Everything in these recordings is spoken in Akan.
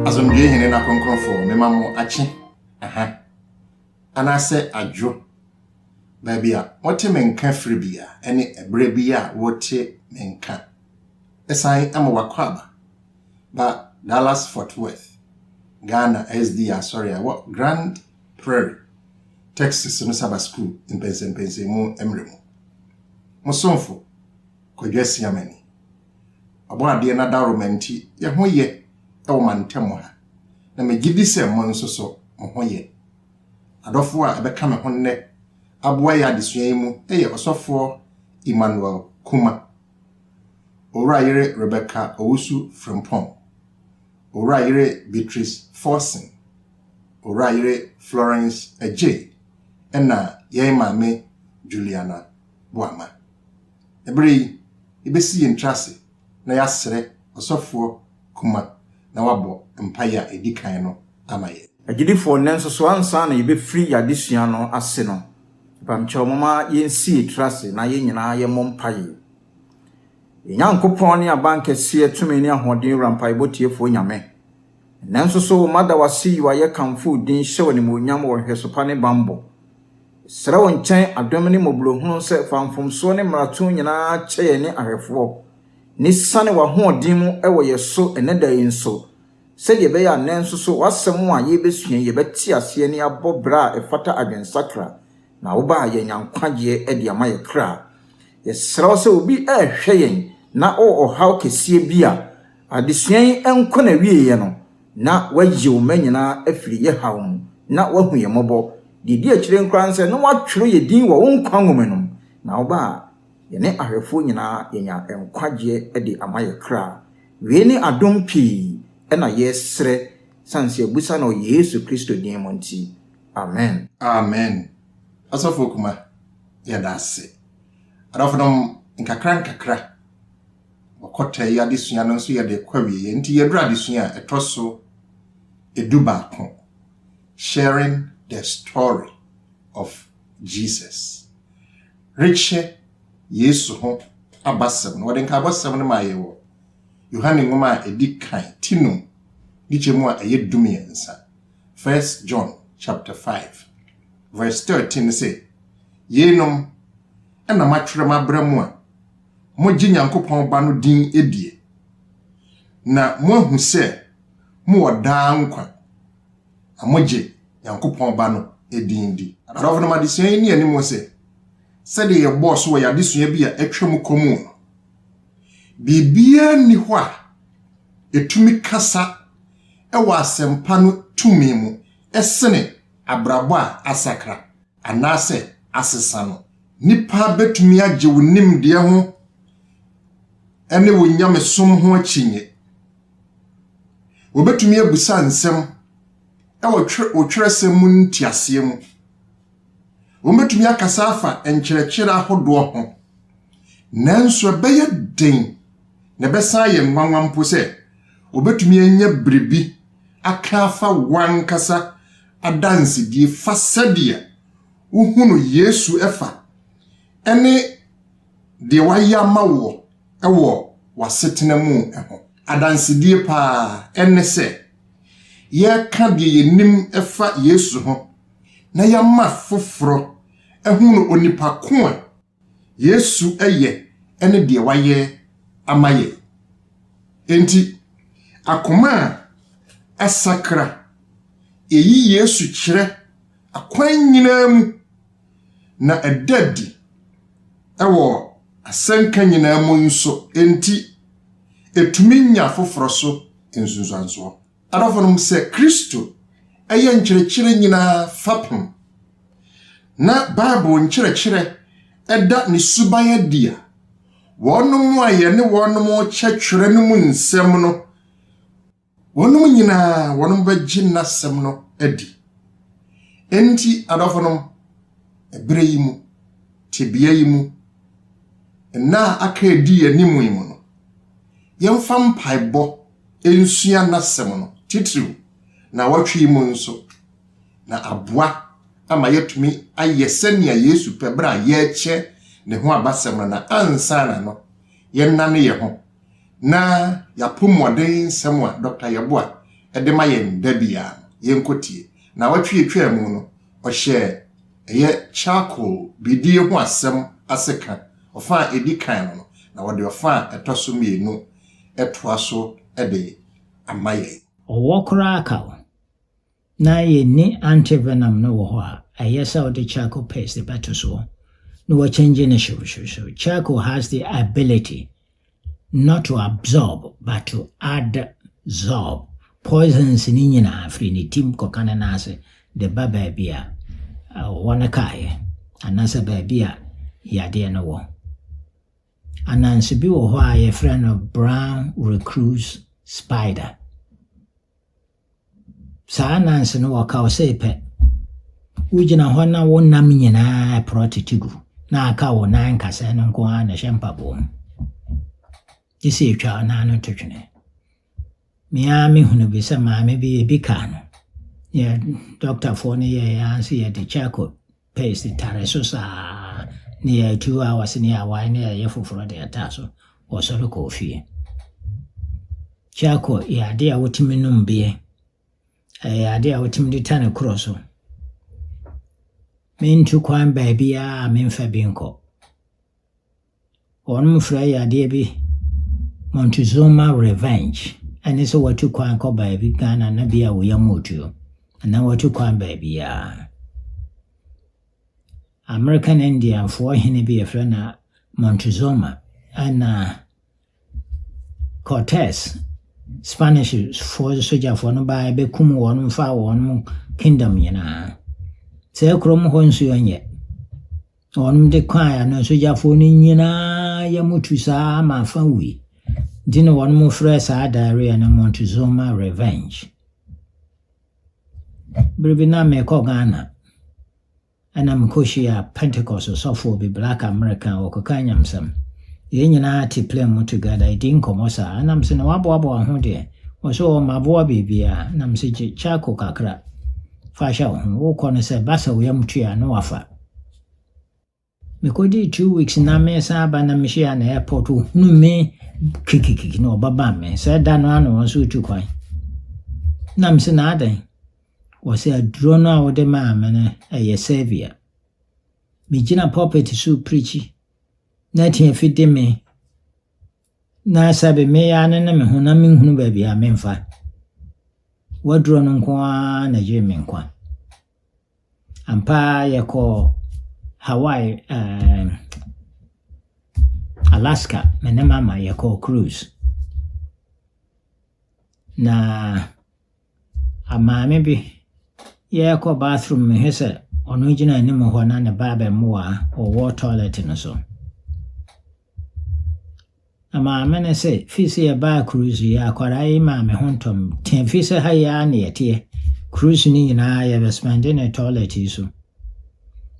asomdwoe hene na kronkronfo mema mo akye aha anaasɛ adwo baabi a wɔte me nka firi bi a ɛne ɛberɛ bi a wɔte me nka ɛsan ama wakɔ aba Ba Dallas-Fort Worth, Ghana SDA Asɔre a ɛwɔ Grand Prairie, Texas no Saba Sukuu mpɛnsɛmpɛnsɛnmu mmerɛ mu. Mo somfo, Kwadwo Asiamani. Ɔbɔadeɛ no adaworoma nti yɛ ho yɛ wɔ mantam ha, na megye di sɛ mo nso so mo ho yɛ. Adɔfoɔ a ɛbɛka me ho nnɛ aboa yɛ adesua yi mu yɛ Ɔsɔfoɔ Emmanuel Kuma. Owura yere Rebecca Owusu Frimpong, Owura yere Beatrice Forson, Owura yere Florence Adjei ɛna yɛn maame Juliana Boamah. Ɛberɛ yi, yɛbɛsi yɛn tiri ase na yɛasrɛ Ɔsɔfoɔ Kuma na wabɔ mpaeɛ a ɛdi kan no ama yɛn. Agyidifoɔ, nanso so ansa na yɛbɛfiri yɛn adesua no ase no, Mpamekyɛw momma yensi yɛn tiri ase na yɛn nyinaa yɛmmɔ mpaeɛ. Yɛn Nyankopɔn ne Abankɛseɛ, Tumi ne Ahoɔden Wura Mpaebɔ Tiefoɔ Nyame, nnɛ nso so mada wo ase yi wo ayɛ kamfo wo din hyɛ wo animuonyam wɔ nhwɛso pa ne bammɔ. Yɛsrɛ wo nkyɛn adom ne mmɔborɔhunu sɛ fa mfomsoɔ ne mmarato nyinaa kyɛ yɛn ne ahwɛfoɔ ne siane w'ahoɔden mu wɔ yɛn so ɛnnɛ da yi nso sɛdeɛ ɛbɛyɛ a nnɛ nso so w'asɛm a yɛrebɛsua yi yɛbɛte aseɛ na yɛabɔ bra a ɛfata adwensakra, na woba a yɛanya nkwagyeɛ de ama yɛn kra. Yɛsrɛ wo sɛ obi rehwɛ yɛn na ɔwɔ ɔhaw kɛseɛ bi a, adesua yi nkɔ n'awieɛ no na wayi wo mma nyinaa afiri yɛ haw mu na wahu yɛn mmɔbɔ. Deɛ ɛdi akyire no koraa ne sɛ na wɔatwerɛ yɛn din wɔ wo nkwa nwoma no mu, na woba a, Yɛne ahwɛfoɔ nyinaa yɛnya nkwagyeɛ de ama yɛ kra. Wei ne adom pii na yɛsrɛ sane sɛ yɛbusa no wɔ Yesu Kristo din mu nti. Amen. Amen Ɔsɔfo Kuma yɛda ase. Adɔfonom nkakra nkakra wɔkɔtaa yi adesua no nso yɛde kɔ awieɛ nti yɛduru adesua a ɛtɔ so edu baako Sharing the story of Jesus. rekyɛ Yesu ho abasɛm no, wɔde nkaebɔsɛm no maa yɛn wɔ Yohane nwoma a edi kan ti no mu, ne kyɛmu a ɛyɛ dumiɛnsa, First John chapter five, verse thirteen no sɛ, Yeinom na matwerɛ mabrɛ mo a mogye Nyankopɔn Ba no din die, na moahu sɛ mowɔ daa nkwa. na mogye Nyankopɔn Ba no din di. Adɔfonom adesua yi nni anim sɛ sɛdeɛ yɛbɔɔ so wɔ yɛn adesua bi a atwa mu kɔ mu no, biribiara nni hɔ a ɛtumi kasa wɔ asɛmpa no tumi mu sene abrabɔ a asakra anaasɛ asesa no. Nnipa bɛtumi agye wo nimdeɛ ho ne wo nyamesom ho akyinnye. Wɔbɛtumi abisa nsɛm wɔ wo twerɛsɛm mu nteaseɛ mu. Wɔbɛtumi akasa afa nkyerɛkyerɛ ahodoɔ ho. Nanso ɛbɛyɛ den na ɛbɛsan ayɛ nwanwa mpo sɛ wɔbɛtumi anya biribi aka afa wo ankasa adansedie fa sɛdeɛ wohunu Yesu fa ne deɛ wayɛ ama woɔ wɔ w'asetena mu ho adansedie pa ara ne sɛ yɛka deɛ yɛnim fa Yesu ho na yɛama foforɔ ahunu onipa ko a Yesu yɛ ne deɛ wayɛ ama yɛn. Enti, akoma a asakra, yɛyi Yesu kyerɛ akwan nyinaa mu. na ɛda adi wɔ asɛnka nyinaa mu nso, enti etumi nya afoforo so nsunsuansoɔ. Adɔfonom, sɛ Kristo yɛ nkyerɛkyerɛ nyinaa fapem, na Bible nkyerɛkyerɛ da ne suban adi a, wɔnom a yɛne wɔnom kyɛtwerɛ no mu nsɛm no, Wɔnom nyinaa wɔnom bɛgye N'asɛm no adi. Enti, adɔfonom, ɛberɛ yi mu, tebea yi mu, nna a aka adi yɛn anim yi mu no, yɛmfa mpaebɔ nsua N'asɛm no, titiriw, nnawɔtwe yi mu nso, na aboa ama yɛatumi ayɛ sɛnea Yesu pɛ berɛ a yɛrekyɛ Ne ho abasɛm no na ansa na no, yɛnnane yɛn ho na yɛapo mmuɔden nsɛm a Dɔkta Yeboah de ma yɛn da biara no, yɛnkɔtie. Nnawɔtwe a ɛtwaa mu no, ɔhyɛɛ ɛyɛ charcoal bidie ho asɛm ase ka ɔfa a ɛdi kan no no, na ɔde ɔfa a ɛtɔ so mmienu toa so de ama yɛn. Ɔwɔ koraa ka wo. Na yenni antivenom no wɔ hɔ a, ɛyɛ sɛ wode charcoal paste de bɛto so na wakyɛngye no hyewhyewhyew. Charcoal has the ability not to absorb but to adsorb poisons no nyinaa firi ne tim kɔka ne nan ase de ba baabi a ɔwɔ no kaeɛ anaasɛ baabi a yadeɛ no wɔ. Ananse bi wɔ hɔ a yɛfrɛ no brown recluse spider. Saa nnanse no wɔka wo sei pɛ, wogyina hɔ na wo nam nyinaa ɛporɔ tete gu, na aka wo nan nkasɛɛ no nko ara na ɛhyɛ mpaboa mu. Gye sɛ ɛtwa wo nan no to twene. Me ara mehunu bi sɛ maame bi ebi kaa no. Yɛ dɔktafoɔ no yɛɛ yɛn ase yɛde charcoal Paste tare so saa ne yɛɛ two hours ne yɛɛ one ne yɛyɛ foforɔ de ɛtaa so wɔsɔre kɔɔ fie kyako yɛ adeɛ a wotumi nom beɛ ɛyɛ adeɛ a wotumi de ta ne korɔ so mentu kwan baabiara a memfa bi nkɔ Wɔfrɛ yadeɛ bi Montezuma revenge ɛne sɛ watu kwan kɔ baabi Ghana na bia wo yam otuo anaa watu kwan baabiaa. American Indianfoɔ hene bi yɛfrɛ no Montezuma ɛna Cortez Spanishfoɔ sogyafoɔ no baeɛ bɛkumm wɔn faa wɔn kingdom nyinaa. Saa kurom hɔ nsuo nyɛ. Wɔde kɔɔeɛ a na sogyafoɔ no nyinaa yam tu sa ara ma afa wui. Nti na wɔfrɛ saa diarrhoea no Montezuma revenge. Berɛ bi na mekɔ Ghana. Ɛna mekɔhyiaa Pentecost ɔsɔfoɔ bi, black American, ɔkɔkaa nyamsɛm. Yɛn nyinaa te plane mu together, yɛdii nkɔmmɔ saa. Ɛna mesɛ, na woaboaboa ho deɛ? Ɔsɛ, oo, maboa biribiara. Ɛna mesɛ, gye charcoal kakra fa hyɛ wo ho, wokɔ no sɛ ba sɛ wo yam tui a, na wafa. Mekɔdii two weeks na mesan aba na mehyiaa no airport, ɔhunu me kikikiki na ɔbabam me. Sɛ da no ara na wɔn nso retu kwan. Na mesɛ, na adɛn? Wɔse aduro no a wode maa me no ɛyɛ salvia. Megyina pulpit so preachi na atiafi de me na sɛbe me ya ne ne me ho na menhunu baabi a memfa. W'aduro no nko ara na gyee me nkwa. Ampa yɛkɔ Hawaii, um, Alaska, me ne mama yɛkɔ cruise. Na A Maame bi rekɔ bathroom mehwɛ sɛ ɔno gyina anim hɔ na ne ba abɛmoa ɔwɔ toilet no so. Na maame no sɛ fii sɛ yɛbaa cruise yi akwadaa yi maa me ho ntɔm tee fii sɛ ha yɛ a na yɛteɛ cruise no nyinaa yɛbɛspɛnde ne toilet yi so.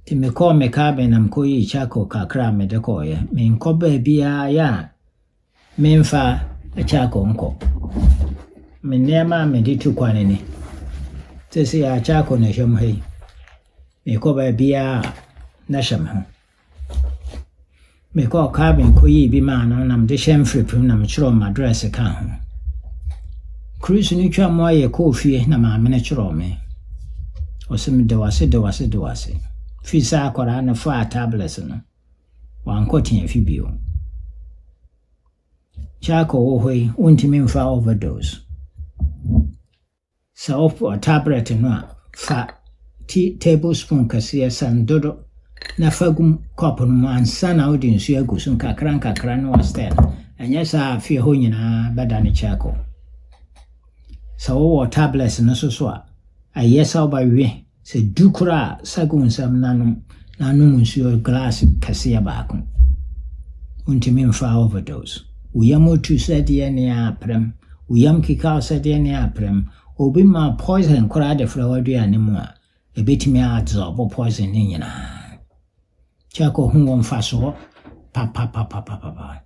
Nti mekɔɔ me cabin na mekɔyii charcoal kakra a mede kɔɔeɛ. Menkɔ baabiara yɛ a Memfa akyako nkɔ. Me nneɛma a mede tu kwan ni. Seesei akyako na ɛhyɛ me ha yi. Mekɔ baabiara a, na ɛhyɛ me ho. Mekɔɔ Calvin kɔyii bi maa no na mede hyɛ mfiripim na mekyerɛw m'address kaa ho. Chris no twa mu ayɛ kɔɔ fie na maame no kyerɛw me. Ɔse meda wo ase da wo ase da wo ase. Fii saa akwadaa no faa tablets no. Ɔannkɔ Teafi bio. Jack ɔwɔ hɔ yi, ontumi mfa overdose. Sɛ ɔfɔ tablet no a, fa tea tablespoon kɛseɛ san dodo na fa gu cup no mu ansa na wode nsuo agu so nkakra nkakra na wastir no. Ɛnyɛ saa a, fie hɔ nyinaa bɛdane charcoal. Sɛ wowɔ tablet no nso so a, ɛyɛ sɛ wobɛwe Sɛ du koro a, sa gu nsam na nom, na nom nsuo glass kɛseɛ baako. Wontumi mfaa overdose. Wo yam tu sɛ deɛ ne a prɛm. Wo yam keka wo sɛ deɛ ne a prɛm. Obi ma wo poison koraa de fra w'aduane mu a, ɛbɛtumi a absorb poison no nyinaa. Kyɛ kɔhu wɔ mfasoɔ papapapapapa.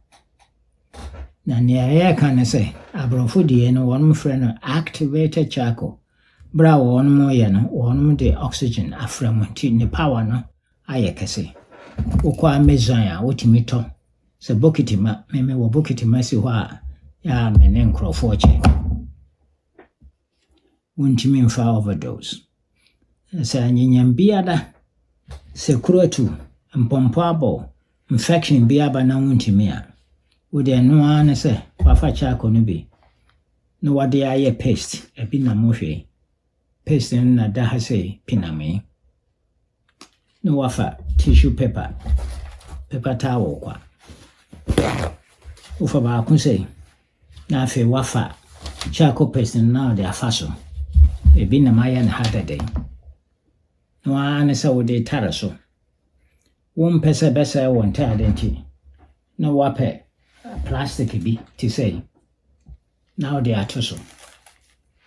Na nea yɛreka ne sɛ, aborɔfo deɛ no wɔfrɛ no activated charcoal. Berɛ a wɔyɛ no, wɔde oxygen afra mu nti ne power no ayɛ kɛse. Wokɔ Amazon a, wotumi tɔ sɛ bokiti ma. Me mewɔ bokiti ma si hɔ a, ɛyɛ a me ne nkurɔfoɔ kyɛ. wontumi mfa overdose. Sɛ anyɛnyɛm bi aba, sɛ kuru atu, mpɔmpɔ abɔ wo, infection bi aba na wontumi a, wo deɛ ɛno ara ne sɛ woafa charcoal no bi na wɔde ayɛ paste, ɛbi nam wo hwɛ yi. Paste no na ɛda ha sei, pinamee. na wɔafa tissue paper, paper towel kwa. Wofa baako sei na afei wɔafa charcoal paste no na wɔde afa so. Ebi nam ayɛ no ha dɛdɛ. Na wɔara ne sɛ wode tare so. Wompɛ sɛ ɛbɛsɛe wo ntaade nti na wɔapɛ plastic bi te sɛ yi na wode ato so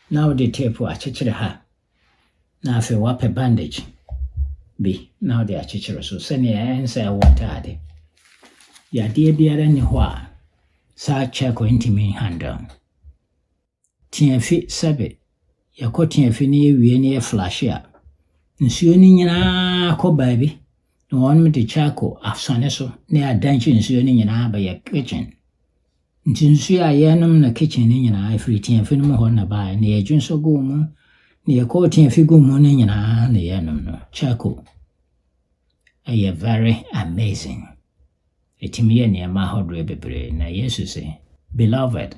na wode tape akyekyere ha na afei wɔapɛ bandage bi na wɔde akyekyere so sɛnea ɛnsɛe wo ntade. Yadeɛ biara nni hɔ a saa charcoal ntumi nhandle. Tiafi sɛbe, yɛkɔ tiafi na yɛwie na yɛflashe a, nsuo no nyinaa kɔ baabi na wɔde charcoal asɔne so na yɛadanhye nsuo no nyinaa abɛyɛ kitchen. Ntsi nsu a yɛnom no kitchen no nyina firi tiafi no mu hɔ na ɛbaeɛ, na yɛdwe nsɔ guu mu, na yɛkɔɔ tiafi guu mu no nyina na yɛnom no, charcoal. Ɛyɛ very amazing. Ɛtumi yɛ nneɛma ahodoɔ bebree, na Yesu se, Beloved,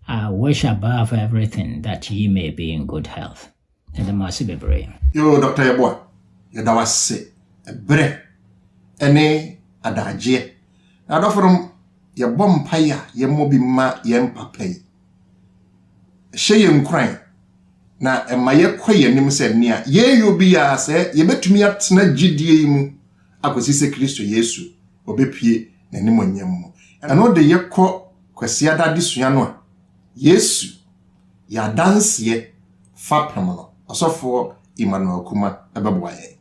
I wish above everything that ye may be in good health. Yɛda mo ase bebree. Yoo Doctor Yeboah yɛda wo ase ɛberɛ ɛne adagyeɛ Adɔfo nom yɛbɔ mpaeɛ a yɛmmɔ bi mma yɛn papa yi Ɛhyɛ yɛn nkuran na ɛma yɛkɔ yɛn anim sɛ nea yɛreyɔ biara sɛ yɛbɛtumi atena gyidie yi mu akɔsi sɛ Kristo Yesu ɔbɛpue n'animuonyam mu Ɛno de yɛkɔ Kwasiada adesua no a Yesu Yɛ adanseɛ fapem no, Ɔsɔfoɔ Emmanuel Kumah bɛboa yɛn.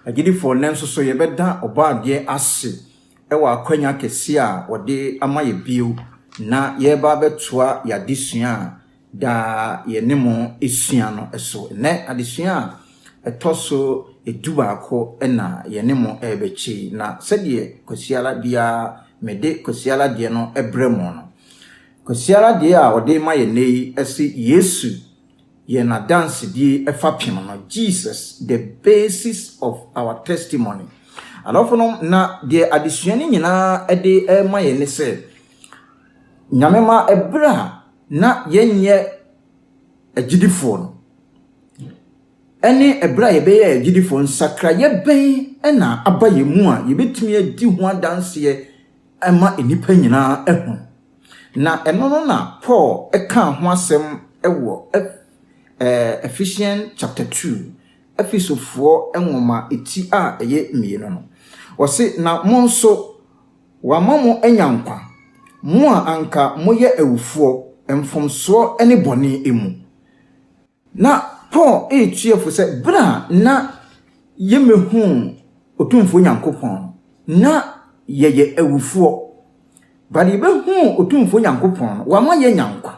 Agyidifoɔ nnɛ nso so yɛbɛda Ɔbɔadeɛ ase wɔ akwanya kɛseɛ a Ɔde ama yɛ bio na yɛreba abɛtoa yɛ adesua a daa yɛne mo sua no so. Nnɛ adesua a ɛtɔ so du baako na yɛne mo rebɛkyɛ yi, na sɛdeɛ Kwasiada biara mede Kwasiada deɛ no brɛ mo no, Kwasiada deɛ a ɔde rema yɛn nnɛ yi se Yesu yɛ n'adansedie fapem no, Jesus the basis of our testimony. Adɔfonom, na deɛ adesua no nyinaa de rema yɛn ne sɛ, Nyame ma ɛberɛ a na yɛnyɛ agyidifoɔ no, ɛne ɛberɛ a yɛbɛyɛ agyidifoɔ, nsakraeɛ bɛn na aba yɛn mu a yɛbɛtumi adi ho adanseɛ, ma nnipa nyinaa hu. Na ɛno no na Paul kaa ho asɛm wɔ Eph eh, Ephesians chapter 2, Efesofoɔ nwoma ti a ɛyɛ mmienu no. Ɔse, Na mo nso, wɔama mo anya nkwa, mo a anka moyɛ awufoɔ mfomsoɔ ne bɔne mu. Na Paul retua fo sɛ, Berɛ a na yɛmmɛhuu Otumfoɔ Nyankopɔn no, na yɛyɛ awufoɔ, but yɛbɛhuu Otumfoɔ Nyankopɔn no, wama yɛanya nkwa.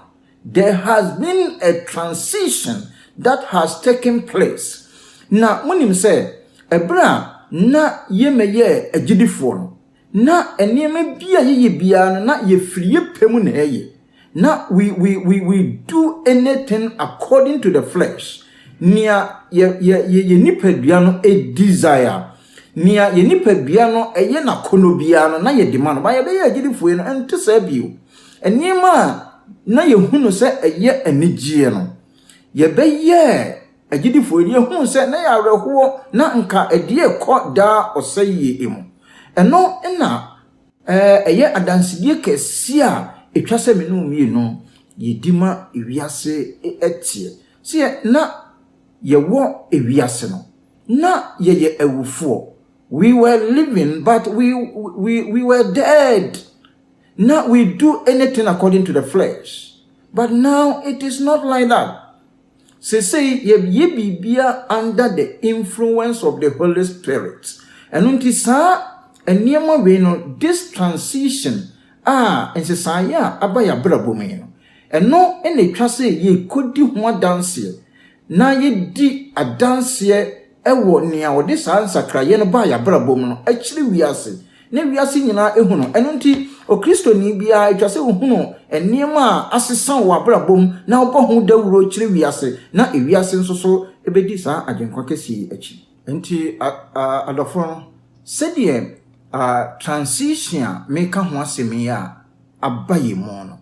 There has been a transition that has taken place. Na monim sɛ, berɛ a na yɛmmɛyɛɛ agyidifoɔ no, Na nneɛma bi a yɛyɛ biara no, na yɛfiri yɛ pɛ mu na yɛyɛ. Na we we we we do anything according to the flesh. Nea yɛ yɛ yɛ yɛ nipadua no e desire, nea yɛ nipadua no ɛyɛ n'akɔnnɔ biara no, na yɛde ma no. Ba yɛbɛyɛ agyidifoɔ no, ɛnte saa bio. Nneɛma a na yɛhunu sɛ ɛyɛ anigyeɛ no, yɛbɛyɛɛ. Agyidifo yi deɛ hunu sɛ na yɛ awerɛhoɔ na nka ɛdeɛ rekɔ daa ɔsɛeɛ mu. Ɛno na ɛyɛ adansedie kɛseɛ a ɛtwa sɛ me ne wo mmienu yɛdi ma ewiase teɛ. Sɛ yɛ na yɛwɔ ewiase no, na yɛyɛ awufoɔ. We were living but we, we, we were dead. Na we do anything according to the flesh. But now it is not like that. Seesei yɛyɛ biribiara under the influence of the Holy Spirit. Ɛno nti saa nneɛma wei no, this transition a nsesaeɛ a aba yɛn abrabɔ mu yi no, ɛno na ɛtwa sɛ yɛkɔdi ho adanseɛ na yɛdi adanseɛ wɔ nea ɔde saa nsakraeɛ no baa y'abrabɔ mu no akyiri wiase na wiase nyinaa ahu no. Ɛno nti, Okristoni biara, ɛtwa sɛ ɔhunu nneɛma a asesa wɔ w'abrabɔ mu na wobɔ ho dawuro kyerɛ wiase na wiase nso so bɛdi saa Agyenkwa kɛseɛ yi akyi. Enti adɔfoɔ no, sɛdeɛ transition a meka ho asɛm yi a aba yɛn mu no,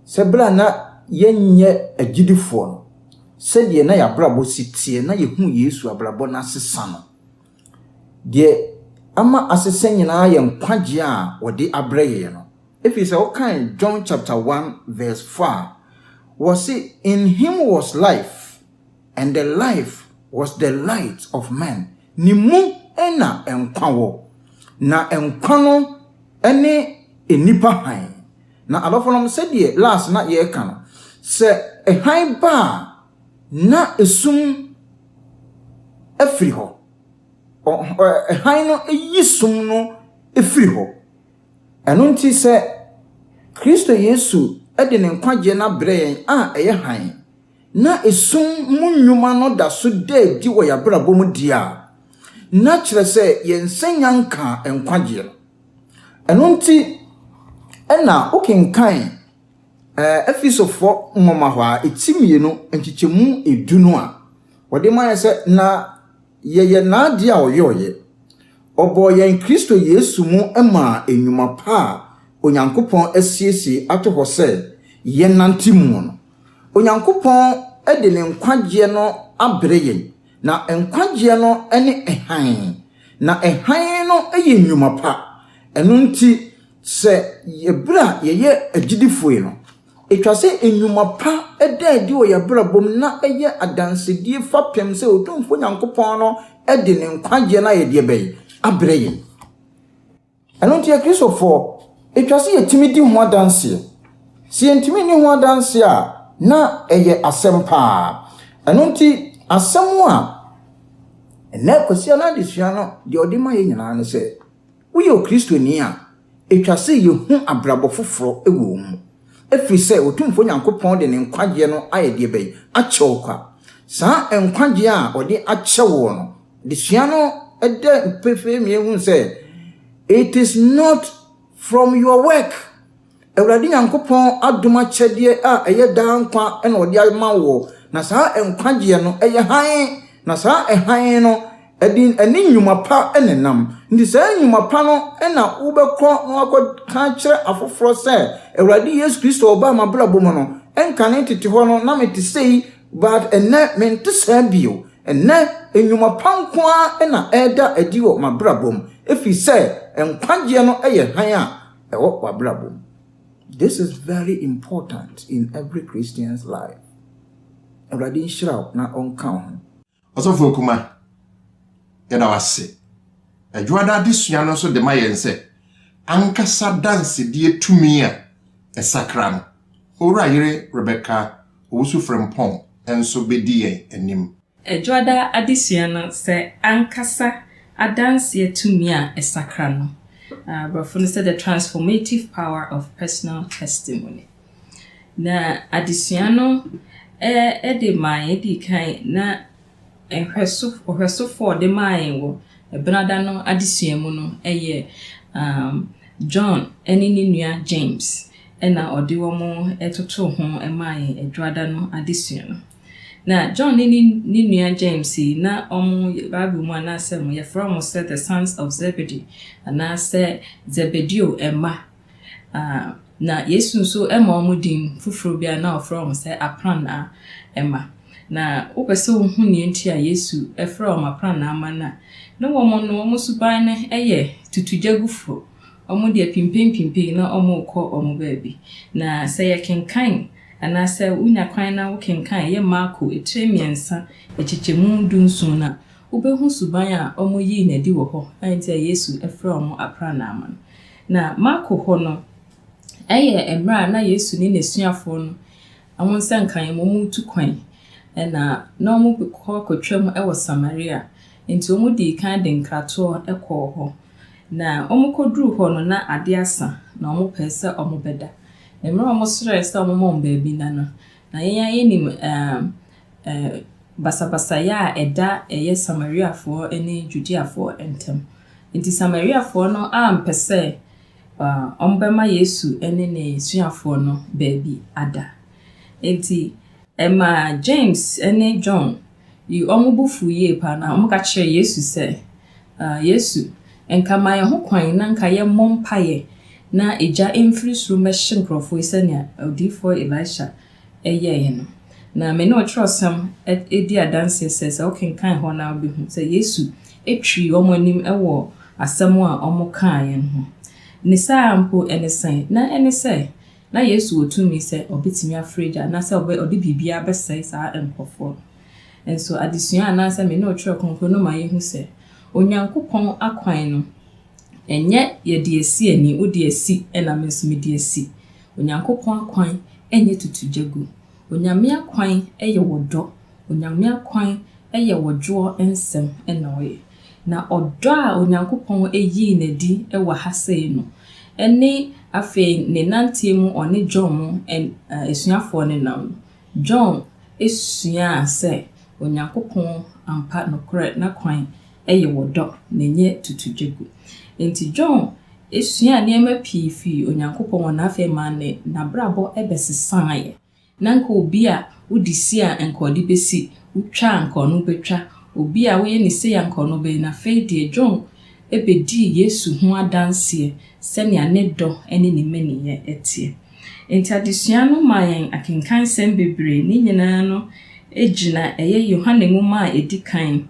Sɛ berɛ a na yɛnyɛ agyidifoɔ no, sɛdeɛ na yɛn abrabɔ si teɛ na yɛhuu Yesu abrabɔ no asesa no, deɛ ama asesa nyinaa yɛ nkwagyeɛ a wɔde abrɛ yɛn no. Ɛfiri sɛ wokan John chapter 1 verse 4 a, wɔse, In him was life, and the life was the light of men. Ne mu na nkwa wɔ, na nkwa no ne nnipa hann. Na adɔfonom, sɛdeɛ last na yɛreka no, sɛ hann ba a, na esum firi hɔ. Hann no yi sum no firi hɔ. Ɛno nti sɛ Kristo Yesu de ne nkwagyeɛ no abrɛ yɛn a ɛyɛ hann, na esum mu nnwuma no da so da adi wɔ yɛn abrabɔ mu deɛ a, na kyerɛ sɛ yɛn sɛ yɛanka nkwagyeɛ no. Ɛno nti na wokenkan Efesofoɔ nwoma hɔ a, ɛti mmienu, nkyekyɛmu edu no a, wɔde ma yɛ sɛ, Na yɛyɛ n'adeɛ a ɔyɔeɛ. Ɔbɔɔ yɛn Kristo Yesu mu maa nnwuma pa a Onyankopɔn asiesie ato hɔ sɛ yɛnnante mu no. Onyankopɔn de ne nkwagyeɛ no abrɛ yɛn. Na nkwagyeɛ no ne hann, na hann no yɛ nnwuma pa. Ɛno nti, sɛ yɛ berɛ a yɛyɛ agyidifoɔ no, ɛtwa sɛ nnwuma pa da adi wɔ yɛn abrabɔ mu na ɛyɛ adansedie fapem sɛ Otumfoɔ Nyankopɔn no de ne nkwagyeɛ no ayɛdeɛ bɛn? Abrɛ yɛn. Ɛno nti Akristofoɔ, ɛtwa sɛ yɛtumi di ho adanseɛ. Sɛ yɛntumi nni ho adanseɛ a, na ɛyɛ asɛm paa. Ɛno nti, asɛm a ɛnɛ Kwasi Anaa Adesua no deɛ ɔde ma yɛ nyinaa ne sɛ, woyɛ Okristoni a, ɛtwa sɛ yɛhu abrabɔ foforɔ wɔ mu. Ɛfiri sɛ Otumfoɔ Nyankopɔn de ne nkwagyeɛ no ayɛ deɛ bɛn? Akyɛ wo kwa. Saa nkwagyeɛ a ɔde akyɛ woɔ no, Adesua no da pefee ma yɛhu sɛ, it is not from your work. Awurade Nyankopɔn adom akyɛdeɛ a ɛyɛ daa nkwa na ɔde ama woɔ, na saa nkwagyeɛ no ɛyɛ hann, na saa hann no ɛde ɛne nnwuma pa na ɛnam. Nti saa nnwuma pa no na wobɛkɔ na woakɔka akyerɛ afoforɔ sɛ, Awurade Yesu Kristo ɔbaa m'abrabɔ mu no, ɛnkane tete hɔ no na mete sei, But ɛnnɛ mente saa bio. Ɛnnɛ, nnwuma pa nko ara na ɛreda adi wɔ m'abrabɔ mu, ɛfiri sɛ nkwagyeɛ no yɛ hann a ɛwɔ w'abrabɔ mu. This is very important in every Christian's life. Awurade nhyira wo na ɔnka wo ho. Ɔsɔfo Okuma, yɛda wo ase. Adwoada adesua no nso de ma yɛn sɛ, ankasa dansedie tumi a ɛsakra no, Owura Yere Rebecca Owusu-Frimpong nso bɛdi yɛn anim. Adwoada adesua no sɛ, ankasa adanseɛ tumi a ɛsakra no, Aborɔfo no sɛ, The Transformative Power of Personal Testimony. Na adesua no de maa yɛn dii kan na nhwɛso ɔhwɛsofoɔ a ɔde maa yɛn wɔ Ɛbɛnada no adesua mu no yɛ um John ne ne nua James na ɔde wɔn totoo ho maa yɛn Adwada no adesua no. Na John ne ne ne nua James yi na wɔn Bible mu anaasɛ wɔyɛfrɛ wɔn sɛ the sons of Zebedee anaasɛ Zebedeo mma. Aah, na Yesu nso ma wɔn din foforɔ bi a na wɔfrɛ wɔn sɛ aprannaa mma. Na wopɛ sɛ wohu nea nti a Yesu frɛ wɔn aprannaa mma no a, na wɔn no, wɔn suban no yɛ tutugyagufoɔ. Wɔn deɛ pimpempimpem na wɔrekɔ wɔn baabi. Na sɛ yɛkenkan anaasɛ wonya kwan na wokenkan ɛyɛ Marko etire mmiɛnsa nkyekyɛmu dunson no a, wobɛhu suban a wɔyii no adi wɔ hɔ a enti a Yesu frɛ wɔn aprannaa mma no. Na Marko hɔ no, ɛyɛ mmerɛ a na Yesu ne n'asuafoɔ no wɔn nsa nka yɛn ma wɔretu kwan, na na wɔrekɔ akɔtwam wɔ Samaria, enti wɔdii kan de nkratoɔ kɔɔ hɔ. Na wɔkɔduruu hɔ no, na adeɛ asa, na wɔpɛɛ sɛ wɔbɛda. Mmerɛ a wɔsrɛɛ sɛ wɔmma wɔn baabi nna no, na yɛn ara yɛnim basabasayɛ a ɛda ɛyɛ Samariafoɔ ne Judeafoɔ ntam. Enti Samariafoɔ no ampɛ sɛ wɔbɛma Yesu ne n'asuafoɔ no baabi ada. Enti ɛmaa James ne John yii wɔn bo fuu yie paa, na wɔka kyerɛɛ Yesu sɛ, Yesu, nka ma yɛn ho kwan na nka yɛmmɔ mpaeɛ na egya mfiri soro mmɛhye nkurɔfoɔ yi sɛdeɛ odiyifoɔ Elisha yɛeɛ no. Na me ne wo twerɛsɛm di adanseɛ sɛ, sɛ wokenkan hɔ no a wobɛhu sɛ Yesu twirii wɔn anim wɔ asɛm a wɔkaeɛ no ho. Ne saa ara mpo, ɛne sɛn? Na ɛne sɛ, na Yesu wɔ tumi sɛ ɔbɛtumi afrɛ gya anaasɛ ɔde biribiara bɛsɛe saa nkurɔfoɔ no. Nso adesua anaasɛ me ne wo twerɛ kronkron no ma yɛhu sɛ Onyankopɔn akwan no, Ɛnyɛ yɛde asi ani, wode asi na me nso mede asi. Onyankopɔn akwan nyɛ tutu gya gu. Onyame akwan yɛ wɔ dɔ. Onyame akwan yɛ wɔ dwoɔ nsɛm na ɔyɛ. Na ɔdɔ a Onyankopɔn yii no adi wɔ ha sei no, ɛne afei ne nanteɛ mu ɔne John mu asuafoɔ no nam no, John suaa sɛ Onyankopɔn ampa nokorɛ n'akwan yɛ wɔ dɔ, na ɛnyɛ tutudwa gu. Enti John suaa nneɛma pii fii Onyankopɔn hɔ, na afei ɛmaa ne n'abrabɔ bɛsesaeɛ. Na anka obi a wode si a anka ɔde bɛsi, wotwa a anka ɔno bɛtwa, obi a woyɛ no sei a anka ɔno bɛyɛ no. Afei deɛ John bɛdii Yesu ho adanseɛ sɛnea ne dɔ ne ne mmaninyɛ teɛ. Enti adesua no maa yɛn akenkansɛm bebree. Ne nyinaa no gyina ɛyɛ Yohane nwoma a ɛdi kan,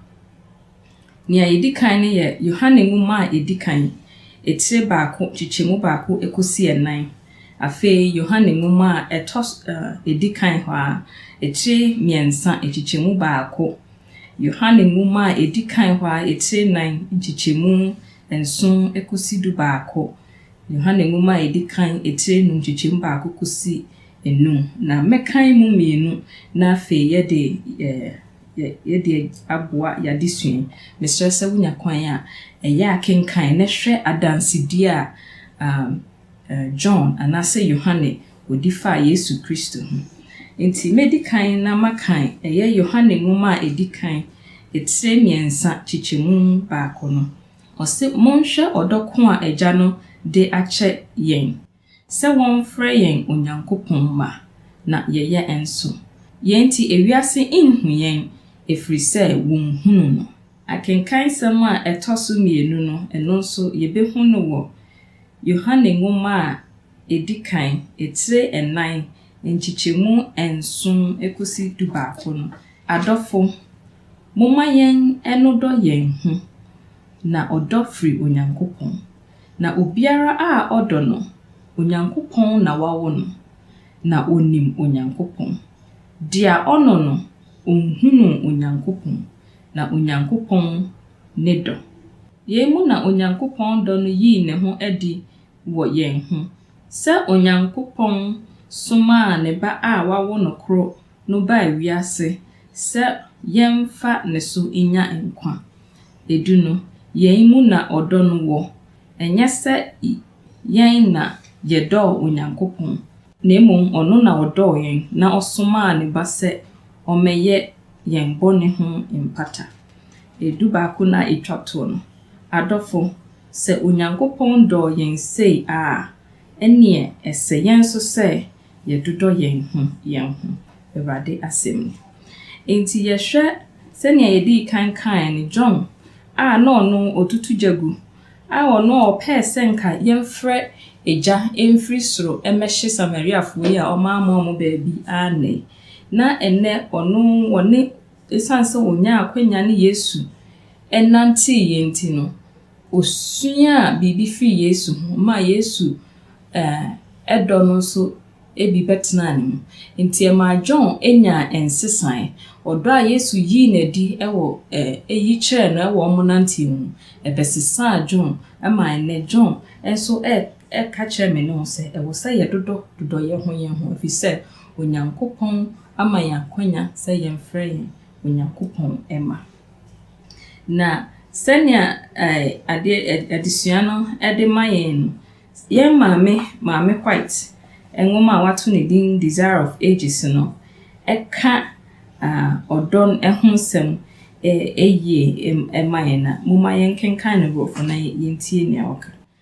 Nea edi kan no yɛ Yohane nwoma a edi kan, etire baako, nkyekyɛmu baako kosi nnan. Afei Yohane nwoma a ɛtɔ so ɛ edi kan hɔ ara, etire mmiɛnsa, nkyekyɛmu baako. Yohane nwoma a edi kan hɔ ara, etire nnan, nkyekyɛmu nson kosi dubaako. Yohane nwoma a edi kan, etire nnum, nkyekyɛmu baako kosi nnum. Na mɛkan emu mmienu, na afei yɛde ɛ. yɛde aboa y'adesua yi. Mesrɛ sɛ wonya kwan a, ɛyɛ a kenkan na hwɛ adansedie a John anaasɛ Yohane ɔdi faa Yesu Kristo ho. Enti mɛdi kan na makan ɛyɛ Yohane nwoma a ɛdi kan, etire mmiɛnsa, kyekyɛmu baako no. Ɔse, Monhwɛ ɔdɔ ko a Agya no de akyɛ yɛn, sɛ wɔmfrɛ yɛn Onyankopɔn mma, na yɛyɛ nso. Yɛn nti ewiase nhu yɛn, ɛfiri sɛ wɔnhunu no. Akenkansɛm a ɛtɔ so mmienu no, ɛno nso yɛbɛhu no wɔ Yohane nwoma a ɛdi kan, etire nnan, nkyekyɛmu nson kɔsi dubaako no. Adɔfo, momma yɛn nnodɔ yɛn ho, na ɔdɔ firi Onyankopɔn, Na obiara a ɔdɔ no, Onyankopɔn na wawo no, na onim Onyankopɔn. Dea ɔnɔ no, onhunuu Onyankopɔn, na Onyankopɔn ne dɔ. Yei mu na Onyankopɔn dɔ no yii ne ho adi wɔ yɛn ho, sɛ Onyankopɔn somaa ne Ba a wawo no koro no baa wiase sɛ yɛmfa ne so nnya nkwa. edu no, yɛn mu na ɔdɔ no wɔ, ɛnyɛ sɛ yɛn na yɛdɔɔ Onyankopɔn, na mmom ɔno na ɔdɔɔ yɛn na ɔsomaa ne Ba sɛ ɔmmɛyɛ yɛn bɔne ho mpata. Edu baako no a etwa to no, adɔfo, sɛ Onyankopɔn dɔɔ yɛn sei a, ɛnneɛ ɛsɛ yɛn nso sɛ yɛdodɔ yɛn ho yɛn ho, Awurade asɛm ni. Enti yɛhwɛ sɛnea yɛdii kan kae no, John a na ɔno ɔtutu gya gu, a ɔno ɔpɛɛ sɛ nka yɛmfrɛ egya mfiri soro mmɛhye Samariafoɔ yi a wɔammoa wɔn baabi annɛe, na ɛnnɛ ɔno wɔne, ɛsiane sɛ ɔnyaa akwanya ne Yesu nantee yɛn nti no, Osuaa biribi fii Yesu ho maa Yesu dɔ no nso bi bɛtenaa ne mu. Enti ɛmaa John nyaa nsesae. Ɔdɔ a Yesu yii no adi wɔ eyi kyerɛɛ no wɔ wɔn nanteɛ mu no, ɛbɛsesaa John ma ɛnnɛ John nso ka kyerɛ me ne wo sɛ ɛwɔ sɛ yɛdodɔ dodɔ yɛn ho yɛn ho efisɛ Onyankopɔn ama yɛn akwanya sɛ yɛmfrɛ yɛn Onyankopɔn mma. Na sɛnea ɛɛ adeɛ ɛ adesua no de ma yɛn no, yɛn maame, Maame White nwoma a wɔato no din Desire of Ages no ka ah ɔdɔ no ho asɛm ɛ yie ma yɛn a, momma yɛnkenkan no Borɔfo na yɛntie deɛ ɔka.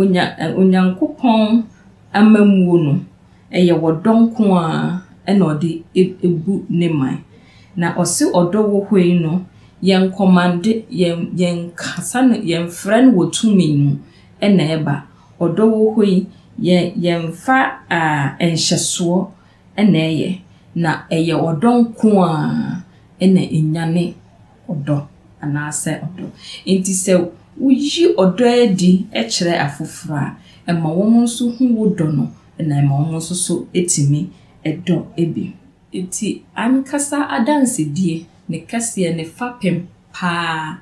Onya ɛ Onyankopɔn amammuo no, ɛyɛ ɔdɔ nko ara ɛna ɔde ɛ bu ne man. Na ɔse ɔdɔ wɔ hɔ yi no, yɛnkɔmande, yɛn yɛnkasa no, yɛmfrɛ no wɔ tumi mu ɛna ɛba. Ɔdɔ wɔ hɔ yi, yɛ yɛmfa aa nhyɛsoɔ ɛna ɛyɛ. Na ɛyɛ ɔdɔ nko ara ɛna ɛnyane. ɔdɔ anaasɛ ɔdɔ. Enti sɛ wuyi ɔdɔ adi kyerɛ afoforo a, ɛma wɔn nso hu wo dɔ no, na ɛma wɔn nso so tumi dɔ bi. Enti ankasa adansedie, ne kɛseɛ, ne fapem paa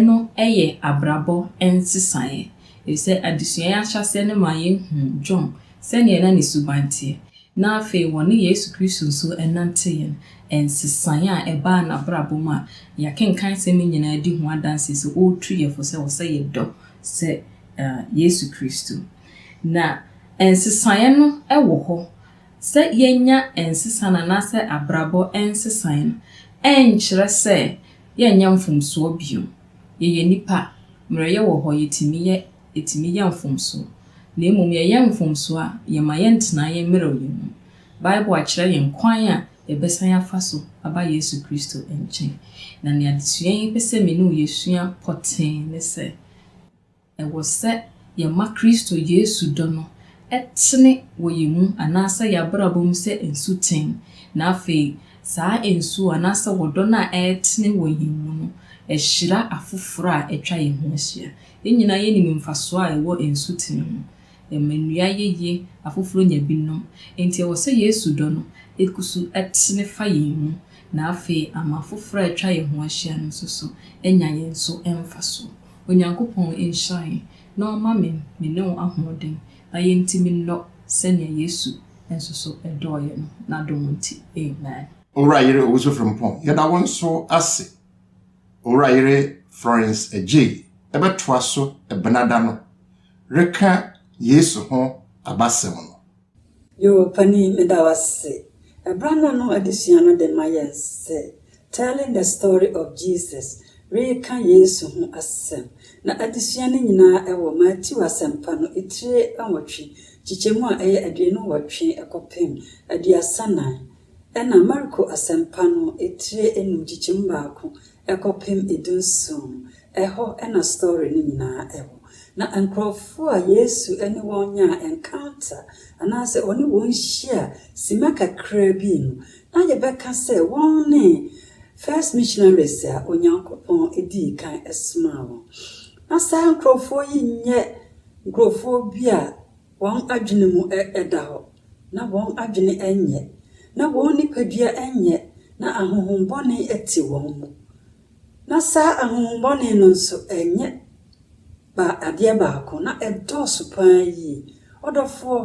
no yɛ abrabɔ nsesaeɛ, ɛfiri sɛ adesua yi ahyɛaseɛ no maa yɛhuu John sɛdeɛ na ne suban teɛ. na afei wɔne Yesu Kristo nso nante yɛn nsesaeɛ a ɛbaa n'abrabɔ mu a yɛakenkan nsɛm yi nyinaa di ho adanseɛ sɛ ɔretu yɛn fo sɛ ɛwɔ sɛ yɛdɔ sɛ Yesu Kristo. Na nsesaeɛ no wɔ hɔ. Sɛ yɛnya nsesa no anaasɛ abrabɔ nsesaeɛ no, ɛnkyerɛ sɛ yɛnyɛ mfomsoɔ bio. Yɛyɛ nnipa, mmerɛyɛ wɔ hɔ, yɛtumi yɛ. etumi yɛ mfomso, na mmom yɛyɛ mfomso a, yɛmma yɛntena yɛn mmerɛwyɛ mu. Bible akyerɛ yɛn kwan a yɛbɛsan afa so aba Yesu Kristo nkyɛn. Na nea adesua yi pɛ sɛ me ne wo yɛsua pɔtee ne sɛ, ɛwɔ sɛ yɛma Kristo Yesu dɔ no tene wɔ yɛn mu anaasɛ yɛn abrabɔ mu sɛ nsuten, na afei saa nsuo anaasɛ ɔdɔ no a ɛretene wɔ yɛn mu no hyira afoforɔ a atwa yɛn ho ahyia. Yɛn nyinaa yenim mfaso a ɛwɔ nsuten ho. Ɛma nnua yɛ yie, afoforo nya bi nom. Enti ɛwɔ sɛ Yesu dɔ no gu so tene fa yɛn mu, na afei ama afoforo a atwa yɛn ho ahyia no nso so anya yɛn so mfaso. Onyankopɔn nhyira yɛn na ɔmma me me ne wo ahoɔden na yentumi nnɔ sɛnea Yesu nso so dɔɔ yɛn no, n'adom nti. Amen. Owura Yere Owusu-Frimpong, yɛda wo nso ase. Owura Yere Florence Adjei bɛtoa so Benada no reka Yesu ho abasɛm no. Yoo pani meda wo ase. Ɛbra no no adesua no de ma yɛn sɛ Telling the Story of Jesus, Reka Yesu ho Asɛm, na adesua no nyinaa ɛwɔ Matthew Asɛmpa no etire nwɔtwe kyekyɛmu a ɛyɛ aduonu nwɔtwe kɔpem aduasa nan Ɛnna Marko Asɛmpa no etire anum nkyekyem baako kɔpem dunson, ɛhɔ na story no nyinaa wɔ. Na nkurɔfo a Yesu ne wɔn nyaa encounter, anaasɛ ɔne wɔn hyia simma kakraa bi no, na yɛbɛka sɛ wɔn ne first missionaries a Onyankopɔn dii kan somaa wɔn. Ná saa nkurɔfoɔ yi nyɛ nkurɔfoɔ bi a Wɔn adwene mu da hɔ, na wɔn adwene nyɛ, na wɔn nipadua nyɛ, na ahonhommɔne te wɔn mu, na saa ahonhommɔne no nso nyɛ adeɛ baako, na ɛdɔɔso pa ara yie. Ɔdɔfoɔ,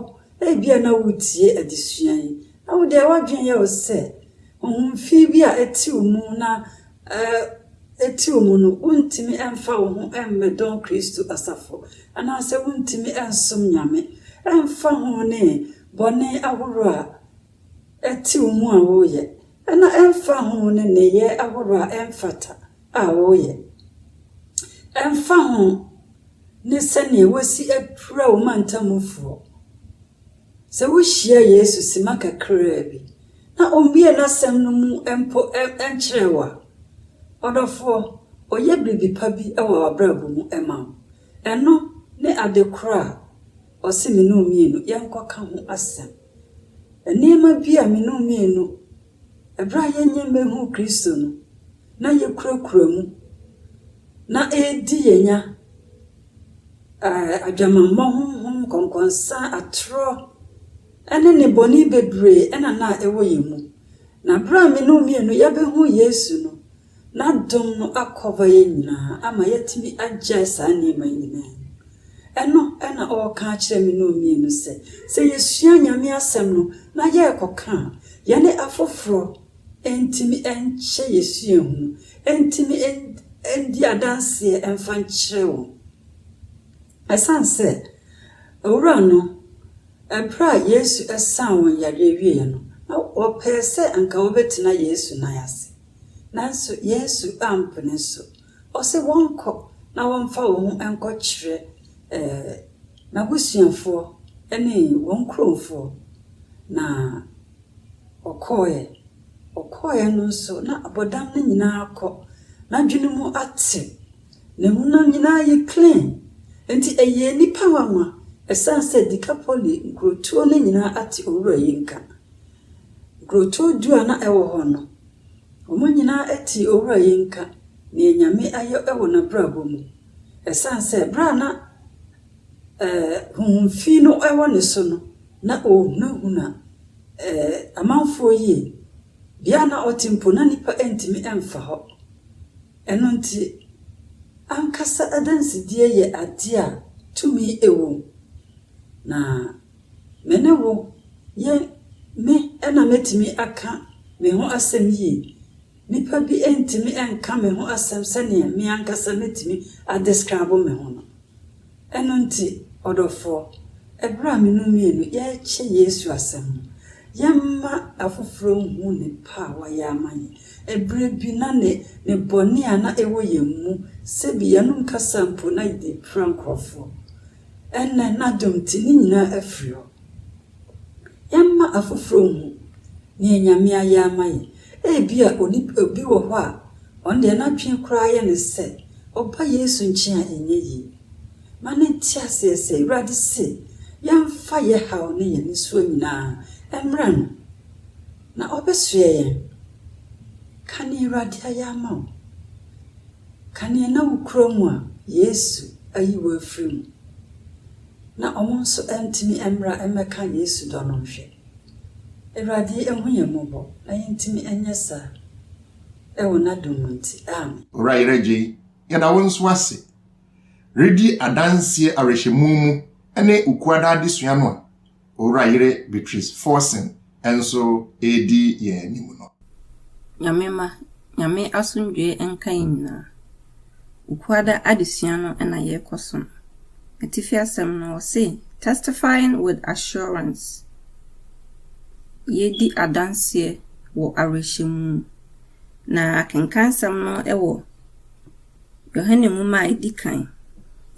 ebia na woretie adesua yi, na wo deɛ w'adwene yɛ wo sɛ Ohun fi bi a etsi wo mu na etsi wo mu no, wunntumi mmfa wo ho mmbɛdɔn Kristo asafo, anaasɛ wunntumi nnsom Nyame. Ɛmmfa ho ne bɔne ahorow a ɛtse wo mu a woreyɛ, na ɛmmfa ho ne nneyɛe ahorow a ɛmmfata a woreyɛ. Ɛmmfa ho ne sɛdeɛ wɔasi apira wo mantamufoɔ. Sɛ wuhyia Yesu simma kakraa bi na ommue n'Asɛm no mu mpo nkyerɛɛ wo a, ɔdɔfoɔ, ɔyɛ biribi pa bi wɔ w'abrabɔ mu ma wo. Ɛno ne ade korɔ a ɔse me ne wo mmienu yɛnkɔka ho asɛm. Nneɛma bi a me ne wo mmienu. Bere a yɛanya mmehuu Kristo no, na yekurakura mu, na ɛredi yɛn nya, adwamammɔ honhom, nkɔnkɔnsa, atorɔ, ne nnebɔne bebree na na ɛwɔ yɛn mu. Na bere a me ne wo mmienu yɛbehuu Yesu no, N'adom no akɔva yɛn nyinaa ama yɛatumi agyae saa nneɛma yi nyinaa mu. Ɛno na ɔreka akyerɛ me ne ɔmmienu sɛ, sɛ yɛsua Nyame Asɛm no na yɛrekɔka a, yɛne afoforɔ ntumi nkyɛ yɛn suahu no, ntumi ndi adanseɛ mfa nkyerɛ wɔn. Ɛsiane sɛ Owura no, berɛ a Yesu saa wɔn yareɛ wieeɛ no, na wɔpɛɛ sɛ anka wɔbɛtena Yesu nan ase. Nanso Yesu ampene so. Ɔse wɔnkɔ na wɔmfa wɔn ho nkɔkyerɛ n'abusuafoɔ ne wɔn nkuromfoɔ. Na ɔkɔeɛ. Ɔkɔeɛ no nso na abɔdam no nyinaa kɔ. N'adwene mu ate. Ne ho no nyinaa yɛ clean. Enti ɛyɛ nnipa nwanwa ɛsiane sɛ Dekapoli nkurotuo no nyinaa ate Owura yi nka. Nkurotow du a na ɛwɔ hɔ no, wɔn nyinaa tee Owura yi nka nea Nyame ayɔ wɔ n'abrabɔ mu. Ɛsan sɛ bere a na eh, honhom fi no wɔ ne so no, na ɔrehunahuna eh, amanfoɔ yie. Bea a na ɔte mpo, na nnipa ntumi mfa hɔ. Ɛno nti, ankasa adansedie yɛ adeɛ a tumi wom. Na Me ne wo, yɛn, me na metumi aka me ho asɛm yie. Nnipa bi ntumi nka me ho asɛm sɛdeɛ me ankasa mɛtumi a describe me ho no. Ɛno nti, ɔdɔfoɔ, ɛberɛ a me no mmienu yɛrekyɛ Yesu asɛm no, yɛmma afoforɔ nhu ne pɛ a wayɛ ama yɛn. Ɛberɛ bi na ne, ne bɔne a na ɛwɔ yɛn mu, sɛbi yɛnom kasa mpo na yɛde pira nkorɔfoɔ. Ɛnnɛ, n'adom nti, ne nyinaa afiri hɔ. Yɛmma afoforo nhu nea Nyame ayɛ ama yɛn. Ebia onipa obi wɔ hɔ a, ɔno deɛ n'adwene koraa yɛ no sɛ ɔba Yesu nkyen a ɛnyɛ yie. Ma no nte aseɛ sɛ Awurade se yɛmfa yɛ haw ne yɛ nisuo nyinaa mmrɛ No, na Ɔbɛsoɛ yɛn. Ka nea Awurade ayɛ ama wo. Ka nea na wokura mu a Yesu ayi wo afiri mu, na wɔn nso antumi mmra mmɛka Yesu dɔ no nhwɛ. Awurade nhu yɛn mmɔbɔ na yɛntumi nyɛ saa. Wɔ N'adom mu nti, amen. Owura Yeragye, yɛda wo nso ase redi adanseɛ awerɛhyɛmu mu ne wo kuada adesua no a Owura Yere Beatrice Forson nso redi yɛn anim no. Nyame mma, Nyame asomdwoeɛ nka yɛn nyinaa. Wukuada adesua no na yɛrekɔ so no, atifi asɛm no wɔse Testifying with Assurance, Yɛredi Adanseɛ wɔ Awerɛhyɛmu, na akenkansɛm no wɔ. Yohane nwoma a edi kan,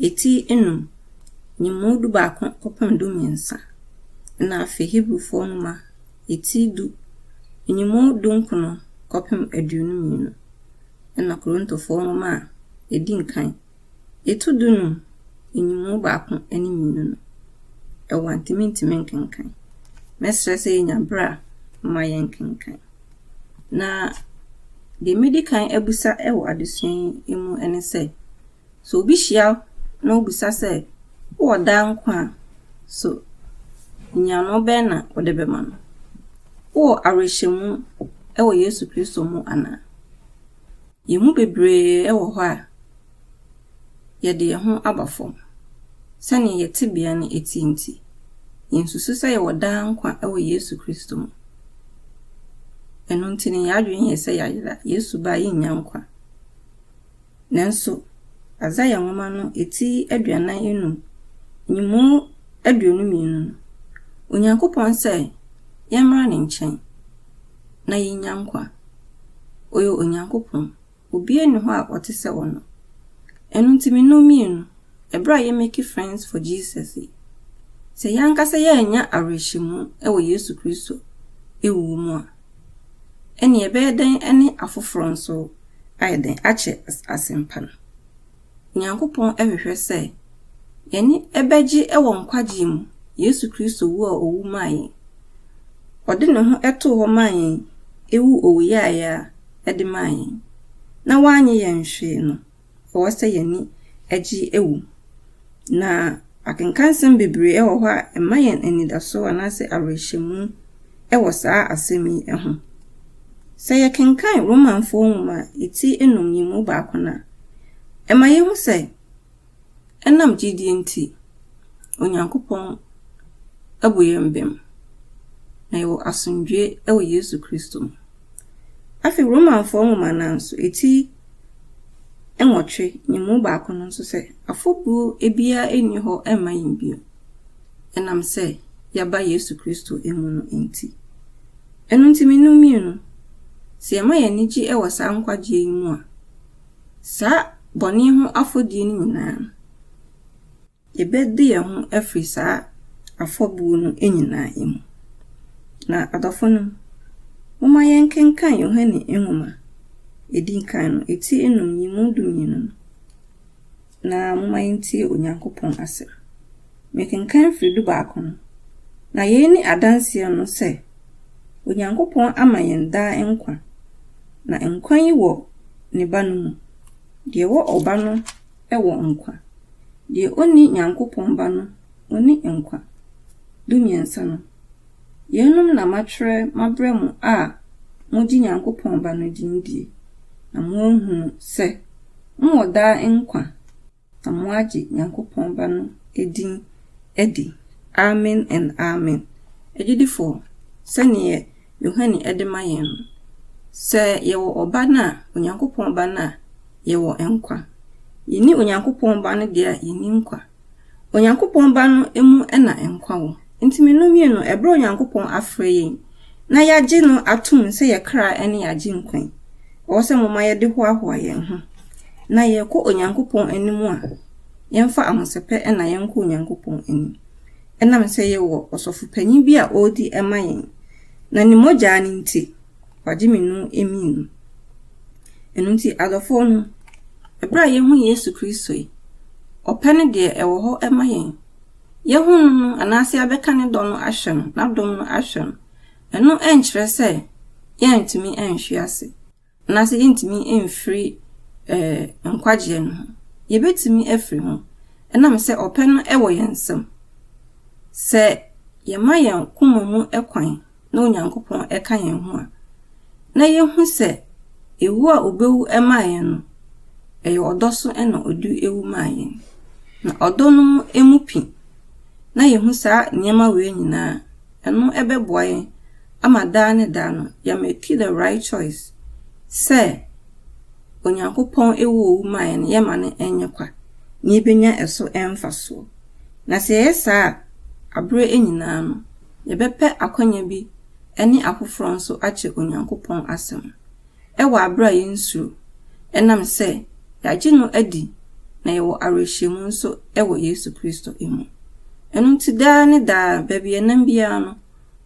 eti enum, nyimu dubaako kɔpem dumiɛnsa, na afei Hebrifo nwoma, eti du, nyimu dunkron kɔpem aduonu mmienu, ɛnna Korintofo nwoma a edi nkan, etu dunum, nyimu baako ne mmienu no, ɛwɔ a ntumi ntumi nkenkan. Mɛsrɛ sɛ yenya bere a momma yɛnkenkan. Na deɛ mɛdi kan abisa wɔ adesua yi mu ne sɛ, sɛ obi hyia na obisa sɛ, wowɔ daa nkwa a, so nyiano bɛn na wode bɛma no? Wowɔ awerɛhyɛmu wɔ Yesu Kristo mu anaa? Yɛn mu bebree wɔ hɔ a, yɛde yɛn ho aba fam. Sɛnea yɛn tebea no te nti, yensusuw sɛ yɛwɔ daa nkwa wɔ Yesu Kristo mu. Ɛno nti na yɛn adwene yɛ sɛ yɛayera, Yesu ba a yennya nkwa. Nanso, Isaiah nwoma no ti aduanan anum, nyimu aduonu mmienu no, Onyankopɔn sɛ yɛmmra ne nkyɛn na yennya nkwa. Ɔyɛ Onyankopɔn. Obiara nni hɔ a ɔte sɛ ɔno. Ɛno nti me ne wo mmienu, ɛberɛ a yɛ make friends for Jesus yi, sɛ yɛn ankasa yɛannya awerɛhyɛmu wɔ Yesu Kristo wuo mu a, ɛnneɛ ɛbɛyɛ dɛn ne afoforɔ nso ayɛ dɛn akyɛ asɛmpa no? Nyankopɔn hwehwɛ sɛ yɛne bɛgye wɔ nkwagyeɛ mu Yesu Kristo wuo a ɔwu maa yɛn. Ɔde ne ho too hɔ maa yɛn ɛwu owuyaeɛ a ɛde maa yɛn, na wannye yɛn hwee no, ɛwɔ sɛ yɛne gye wu. Na. Akenkansɛm bebree wɔ hɔ a ɛma yɛn anidaso anaasɛ awerɛhyɛmu wɔ saa asɛm yi ho. Sɛ yɛkenkan Romanfoɔ nwoma a eti nnum yi mu baako no a, ɛma yɛhu sɛ ɛnam gyedie nti, Onyankopɔn abu yɛn bem, na yɛwɔ asomdwoeɛ wɔ Yesu Kristo mu. Afei Romanfoɔ nwoma no ara nso, eti Nwɔtwe, nye mu baako no so sɛ, Afɔbuo biara nni hɔ mma yɛn bio, ɛnam sɛ yɛaba Yesu Kristo mu no nti. Ɛno nti, me ne wo mmienu, sɛ yɛma yɛn ani gye wɔ saa nkwagyeɛ yi mu a, saa bɔne ho afɔdie no nyinaa no, Yɛbɛdi yɛn ho afiri saa afɔbuo no nyinaa mu. Na adɔfonom, momma yɛnkenkan Yohane nwoma a ɛdi kan no, ɛti nnum yi mu dumienu no, na momma yɛntie Onyankopɔn asɛm. Mekenkan firi dubaako no, Na yei ne adanseɛ no sɛ, Onyankopɔn ama yɛn daa nkwa, na nkwa yi wɔ ne Ba no mu. Deɛ ɛwɔ Ɔba no wɔ nkwa. Deɛ ɔnni Nyankopɔn Ba no, ɔnni nkwa. Dumiɛnsa no, Yeinom na matwerɛ mabrɛ mo a mogye Nyankopɔn Ba no din die, na moahunu sɛ mowɔ daa nkwa, na moagye Nyankopɔn Ba no din adi. Amen and Amen. Agyidifoɔ, sɛdeɛ Yohane de ma yɛn no, sɛ yɛwɔ Ɔba no a, Onyankopɔn Ba no a, yɛwɔ nkwa. Yenni Onyankopɔn Ba no deɛ a, yenni nkwa. Onyankopɔn Ba no mu na nkwa wɔ. Enti mmienu mmienu, ɛberɛ a Onyankopɔn afrɛ yɛn na yɛagye no atom sɛ yɛn kra ne yɛn Agyenkwa yi, ɛwɔ sɛ momma yɛde hoahoa yɛn ho na yɛrekɔ Onyankopɔn anim a, yɛmfa ahosɛpɛ na yɛnkɔ Onyankopɔn anim. Ɛnam sɛ yɛwɔ ɔsɔfopanyin bi a ɔredi ma yɛn, na ne mogyaa no nti, wagye me no amii no. Ɛno nti, adɔfoɔ no, ɛberɛ a yɛahu Yesu Kristo yi, ɔpɛ ne deɛ ɛwɔ hɔ ma yɛn, yɛahu no no anaasɛ yɛabɛka ne dɔ no ahwɛ no, n'adom no ahwɛ no, ɛno nkyerɛ sɛ yɛrentumi nhwe ase. Na sɛ yentumi mfiri nkwagyeɛ no ho, yɛbɛtumi afiri ho ɛnam sɛ ɔpɛ no wɔ yɛn nsam. Sɛ yɛma yɛn koma mu kwan na Onyankopɔn ka yɛn ho a, na yɛhu sɛ ɛwu a ɔbɛwu maa yɛn no, ɛyɛ ɔdɔ so na ɔde ɛwu maa yɛn. Na ɔdɔ no mu pi na yɛhu saa nneɛma wei nyinaa Ɛno bɛboa yɛn ama daa ne daa no yɛameki the right choice sɛ Onyankopɔn woo owu maa yɛn no, yɛmma no nyɛ kwa, na yebenya ɛso mfasoɔ. Na sɛ yɛyɛ saa a, aberɛ nyinaa no, yɛbɛpɛ akwanya bi ne afoforɔ nso akyɛ Onyankopɔn asɛm. wɔ aberɛ a yɛnsuro, ɛnam sɛ yɛagye no adi na yɛwɔ awerɛhyɛmu nso wɔ Yesu Kristo mu. Ɛno nti daa ne daa, baabi yɛnam biara no,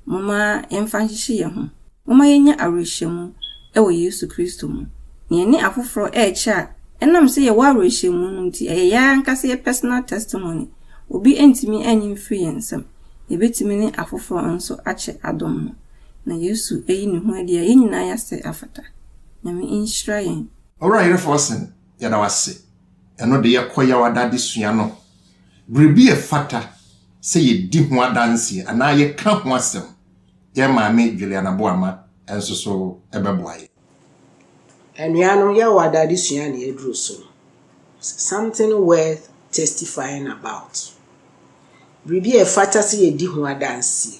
momma yɛmfa nhyehye yɛn ho. Momma yɛnnya awerɛhyɛmu wɔ Yesu Kristo mu, na yɛne afoforɔ rekyɛ a, ɛnam sɛ yɛwɔ awerɛhyɛmu no nti, ɛyɛ yɛn ara ankasa yɛn personal testimony, obi ntumi nnye mfiri yɛn nsam, yɛbɛtumi ne afoforɔ nso akyɛ adom no. na Yesu ayi ne ho adi a yɛn nyinaa yɛasɛ afata. Nyame nhyira yɛn. Owura Yere Forson, yɛda wo ase. Ɛno de yɛkɔ Yawada adesua no. Biribi a ɛfata sɛ yɛdi ho adanseɛ anaa yɛka ho asɛm. Yɛn maame Juliana Boama nso so bɛboa yɛn. Anuanom, Yawada adesua na yɛaduru so no. Something worth testifying about. Biribi a ɛfata sɛ yɛdi ho adanseɛ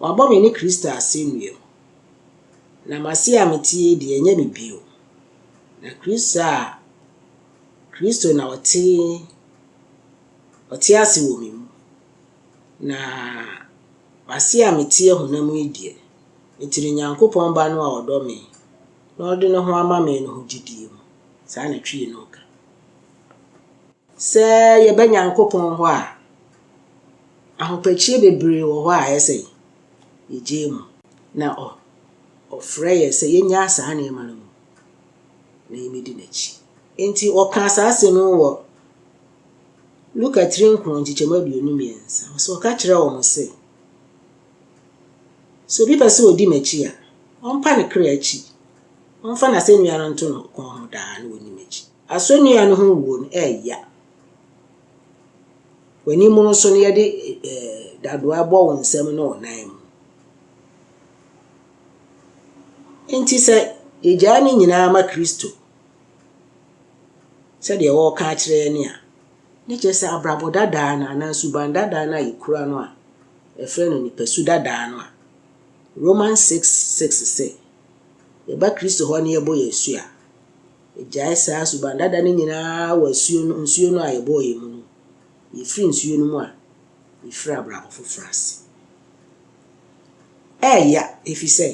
Wɔabɔ me ne Kristo asɛnnua mu, na m'ase a mete yi deɛ, ɛnyɛ me bio, na Kristo a, Kristo na ɔte, ɔte ase wɔ me mu. Na m'ase a meteɛ honam yi deɛ, mete Onyankopɔn Ba no a ɔdɔ me na ɔde ne ho ama me no ho gyidie mu. Saa na Twii no reka. Sɛ yɛba Nyankopɔn hɔ a, ahopɛkyie bebree wɔ hɔ a ayɛ sɛ yɛgyae mu. Na ɔ, ɔfrɛ yɛn sɛ yɛnyaa saa nneɛma no mu na yɛmmɛdi N'akyi. Enti ɔkaa saa asɛm yi wɔ Luka tiri nkron nkyekyɛmu aduonu mmiɛnsa, ɔse, ɔka kyerɛɛ wɔn se, Sɛ obi pɛ sɛ ɔdi M'akyi a, ɔmpa ne kra akyi, ɔmfa n'asɛnnua no nto ne kɔn ho daa na ɔnni M'akyi. Asɔnnua no ho wuo no yɛ ya. W'anim no so no yɛde dadoa bɔ wo nsam ne wo nan mu. Enti sɛ yɛgyae ne nyinaa ma Kristo sɛdeɛ wɔreka akyerɛ yɛn a, ne kyerɛ sɛ abrabɔ dadaa no anaa suban dadaa no a yɛkura no a ɛfrɛ no nipasu dadaa no a Romans 6, 6 sɛ yɛba Kristo hɔ na yɛbɔ yɛn asu a, Gyae saa suban dada no nyinaa wɔ asuo no, nsuo no a yɛbɔɔ yɛn mu no. Yɛfiri nsuo no mu a, yɛfiri abrabɔ foforɔ ase. Ɛreya, ɛfiri sɛ,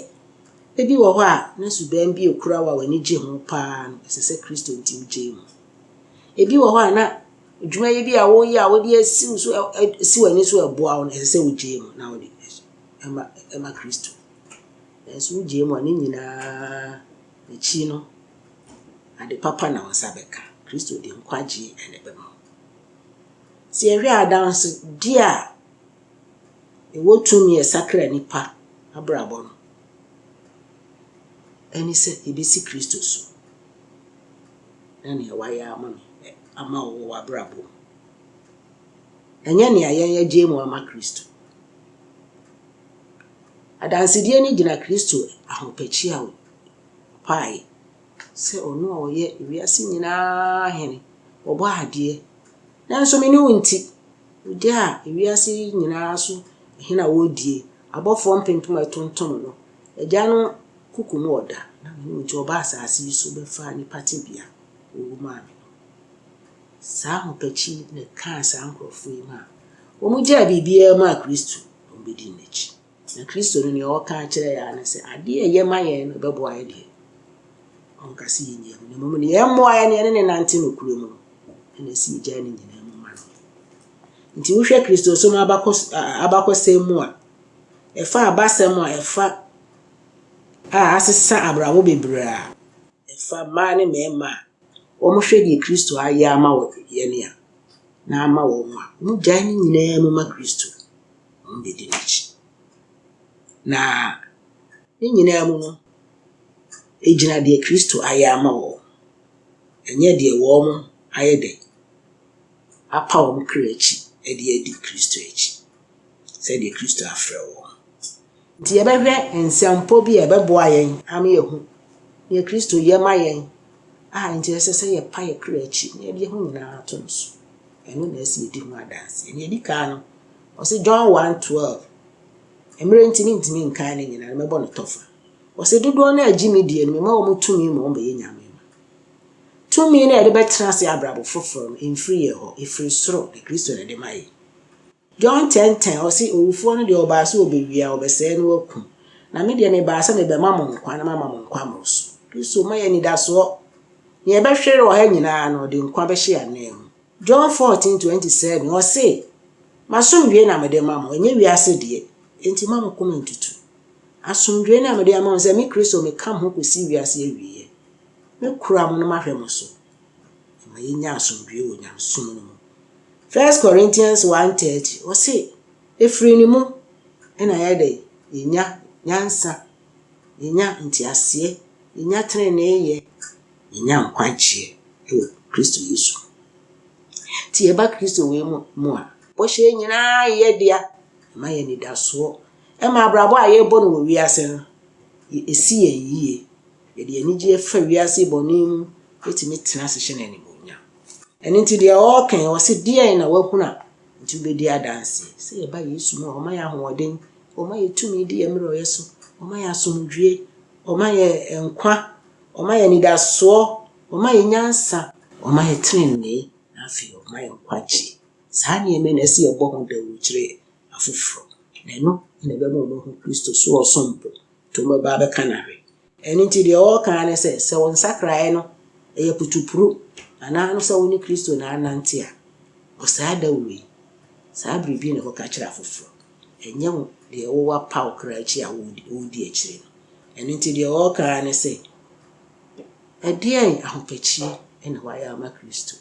ebi wɔ hɔ a, na suban bi a ɛkura wo a w'ani gye ho pa ara no, ɛsɛ sɛ Kristo nti wogyae mu. Ebi wɔ hɔ a, na adwumayɛ bi a woreyɛ a wode asi wo so, si w'ani so a ɛboa wo no, ɛsɛ sɛ wogyae mu na wode ma Kristo. Nanso wogyae mu a, ne nyinaa. N'akyi no, ade papa na wo nsa bɛka. Kristo de nkwagyeɛ na ɛbɛma wo. Sɛ yɛhwɛ adansedie a ɛwɔ tumi a ɛsakra nnipa abrabɔ no, ɛne sɛ yɛbɛsi Kristo so na nea wayɛ ama me ama wo wɔ w'abrabɔ mu. Ɛnyɛ nea yɛn yɛgye mu ama Kristo. Adansedie no gyina Kristo ahopɛkyia a ɔpaeɛ sɛ ɔno a ɔyɛ wiase nyinaa hene, ɔbɔ adeɛ. Nanso me ne wo nti, ɔgya a wiase yi nyinaa so hene a ɔredie, abɔfoɔ mpempem a ɛtontom no, agya no kuku mu ɔda, na me ne wo nti ɔba asase yi so bɛfa nnipa tebea a ɔwɔ mu ame no. Saa ahopɛkyi na ɛkaa saa nkurɔfoɔ yi maa wɔgyaa biribiara maa Kristo. na wɔbɛdii n'akyi. Na Kristo no, deɛ ɔka kyerɛ yɛn ara ne sɛ, adeɛ a ɛyɛ ma yɛn no bɛboa yɛn deɛ, ɔnka sɛ yɛnyɛ mu, na mmom deɛ ɛmmoa yɛn no, yɛne no nante nokorɛ mu no, ɛna ɛsɛ yɛgyae ne nyinaa mu ma no. Nti wohwɛ Kristosom abakɔs abakɔsɛm mu a, ɛfa abasɛm a ɛfa a asesa abrabɔ bebree a ɛfa mmaa ne mmarima a wɔhwɛ deɛ Kristo ayɛ ama wɔ yɛn a, na ama wɔn a wɔgyae ne nyinaa mu ma Kristo, na wɔbɛdi n'akyi. Na ne nyinaa mu no, ɛgyina deɛ Kristo ayɛ ama wɔn, ɛnyɛ deɛ wɔn ayɛ dɛn, apa wɔn kra akyi de adi Kristo akyi. sɛdeɛ Kristo afrɛ wo. Nti yɛbɛhwɛ nsɛmpɔ bi a ɛbɛboa yɛn ama yɛahu deɛ Kristo yɛ ma yɛn a nti ɛsɛ sɛ yɛpa yɛn kra akyi na yɛde yɛn ho nyinaa to no so. Ɛno na ɛsɛ yɛdi ho adanseɛ. Deɛ ɛdi kan no, ɔse John 1, 12, mmerɛ nti mentumi nkan ne nyinaa no, mɛbɔ no tɔfa. Ɔse dodoɔ no a ɛgye me die no, mema wɔn tumi ma wɔbɛyɛ nyame mma. Tumi no a yɛde bɛtena ase abrabɔ foforɔ no, ɛmfiri yɛn hɔ, ɛfiri soro, na Kristo na ɛde ma yɛn. John tɛntɛn, ɔse, Owufoɔ no deɛ ɔbaa sɛ ɔbɛwia, ɔbɛsɛe na wakum. Na me deɛ mebaa sɛ mebɛma mo nkwa na mama mo nkwa mmoro so. Kristo ma yɛn anidasoɔ. Nea ɛbɛhwere ɔha nyinaa no, ɔde nkwa bɛhyɛ yɛn ananmu. John fourteen, twenty seven, ɔse, M'asomdwoeɛ na mede ma mo, ɛnyɛ wiase deɛ, enti mma mo koma ntutu. Asomdwoeɛ no a mede ama mo sɛ me Kristo meka mo ho kɔsi wiase awieɛ. Mɛkura mo na mahwɛ mo so. Ɛma yɛnya asomdwoeɛ wɔ nyamesom no mu. First Corinthians one thirty, ɔse, Ɛfiri ne mu na yɛayɛ dɛn? Yɛnya nyansa, yɛnya nteaseɛ, yɛnya teneneeyɛ, yɛnya nkwagyeɛ wɔ Kristo Yesu mu. Nti yɛba Kristo wei mu mu a, bɔhyɛ yi nyinaa yɛ dea. Ɛma yɛ anidasoɔ. Ɛma abrabɔ a yɛrebɔ no wɔ wiase no, ɛsi yɛn yie. Yɛde anigyeɛ fa wiase bɔne mu tumi tena ase hyɛ no animuonyam. Ɛno nti deɛ ɔreka yi, ɔse deɛn na woahunu a nti wobɛdi adanseɛ? Sɛ yɛba Yesu mu a, ɔma yɛn ahoɔden, ɔma yɛn tumi di yɛn mmerɛyɛ so, ɔma yɛn asomdwoeɛ, ɔma yɛn nkwa, ɔma yɛn anidasoɔ, ɔma yɛn nyansa, ɔma yɛn tenenee, na afei ɔma yɛn nkwagyeɛ. Saa nneɛma yi na ɛsɛ yɛbɔ ho dawuro kyerɛ afoforɔ, na ɛno na ɛbɛma wɔahu Kristo so ɔsom bo To me ba bɛka na hwɛ. Ɛno nti deɛ ɔreka ara ne sɛ, sɛ wo nsakraeɛ no yɛ putupru anaa no sɛ wo ne Kristo na anante a, wɔ saa dawuro yi, saa biribi yi na kɔka kyerɛ afoforɔ. Ɛnyɛ wo deɛ wowɔ apa wo kra akyi a woredi akyire no. Ɛno nti deɛ ɔreka ara ne sɛ, ɛdeɛn ahopɛkyie na woayɛ ama Kristo?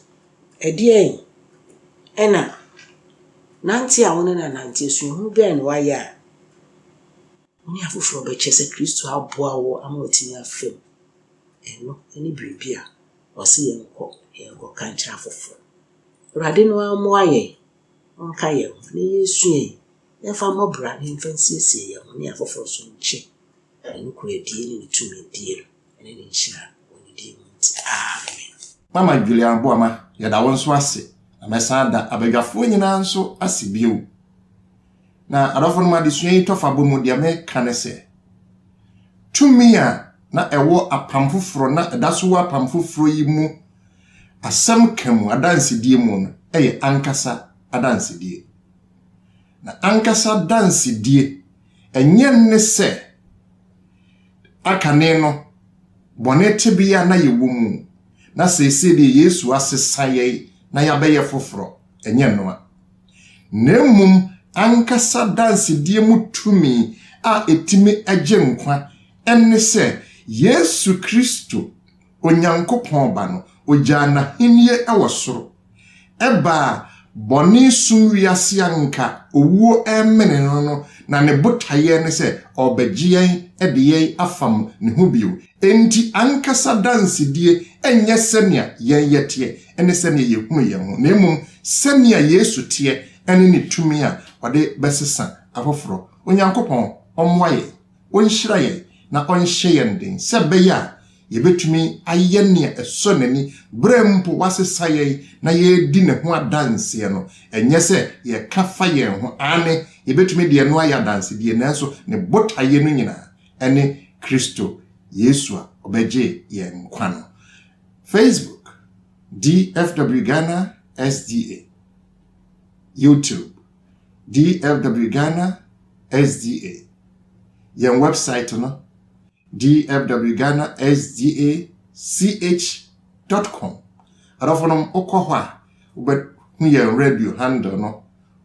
Ɛdeɛn na nante a wo ne no anante, suahunu bɛn na woayɛ a, Wo ne afoforo bɛkyɛ sɛ Kristo aboa wo ama woatumi afa mu. Ɛno ne biribi a ɔse yɛnkɔ na yɛnkɔka nkyerɛ afoforo. Awurade no ara mmoa yɛn, ɔnka yɛn ho, nea yɛresua yi, yɛmfa mmɔ bra na yɛmfa nsiesie yɛn ho ne afoforo nso nkyɛ ne nokorɛdie ne ne tumidie no. ne ne nhyira wɔ ne din mu nti, amen. Mama Julia Aboama, yɛda wo nso ase, na mɛsan ada abadwafoɔ nyinaa nso ase bio. Na adɔfonom adesua yi tɔfabɔ mu deɛ meka ne sɛ, tumi a na ɛwɔ apam foforɔ na ɛda so wɔ apam foforɔ yi mu asɛm ka mu adansedie mu no yɛ ankasa adansedie. Na ankasa adansedie ɛnyɛ ne sɛ a kane no bɔne tebea na yɛwɔ mu, na seesei deɛ Yesu asesa yɛn na yɛabɛyɛ foforɔ, ɛnyɛ ɛno a, na mmom ankasa dansedie mu tumi a ɛtumi gye nkwa, ɛne sɛ Yesu Kristo, Onyankopɔn Ba no, ɔgyaa n'ahennie wɔ soro. Ɛbaa bɔne sum wiase a nka owuo remene no no na ne botaeɛ ne sɛ ɔrebɛgye yɛn de yɛn afam ne ho bio. Enti ankasa dansedie nyɛ sɛnea yɛn yɛteɛ ne sɛnea yɛhunu yɛn ho, na mmom sɛnea Yesu teɛ ne ne tumi a ɔde bɛsesa afoforɔ. Onyankopɔn ɔmmoa yɛn. ɔnhyira yɛn na ɔnhyɛ yɛn den sɛ ɛbɛyɛ a yɛbɛtumi ayɛ nea ɛsɔ n'ani berɛ mpo wasesa yɛn na yɛredi ne ho adanseɛ no, ɛnyɛ sɛ yɛka fa yɛn ho, aane, yɛbɛtumi de ɛno ayɛ adansedie, nanso ne botaeɛ no nyinaa ne Kristo Yesu a ɔbɛgye yɛn nkwa no. Facebook, DFW Ghana SDA, YouTube, DFW Ghana SDA, Yɛn wɛbsaet no, dfwghanasdachcom. Adɔfonom, wokɔ hɔ a, wobɛhu yɛn radio handle no.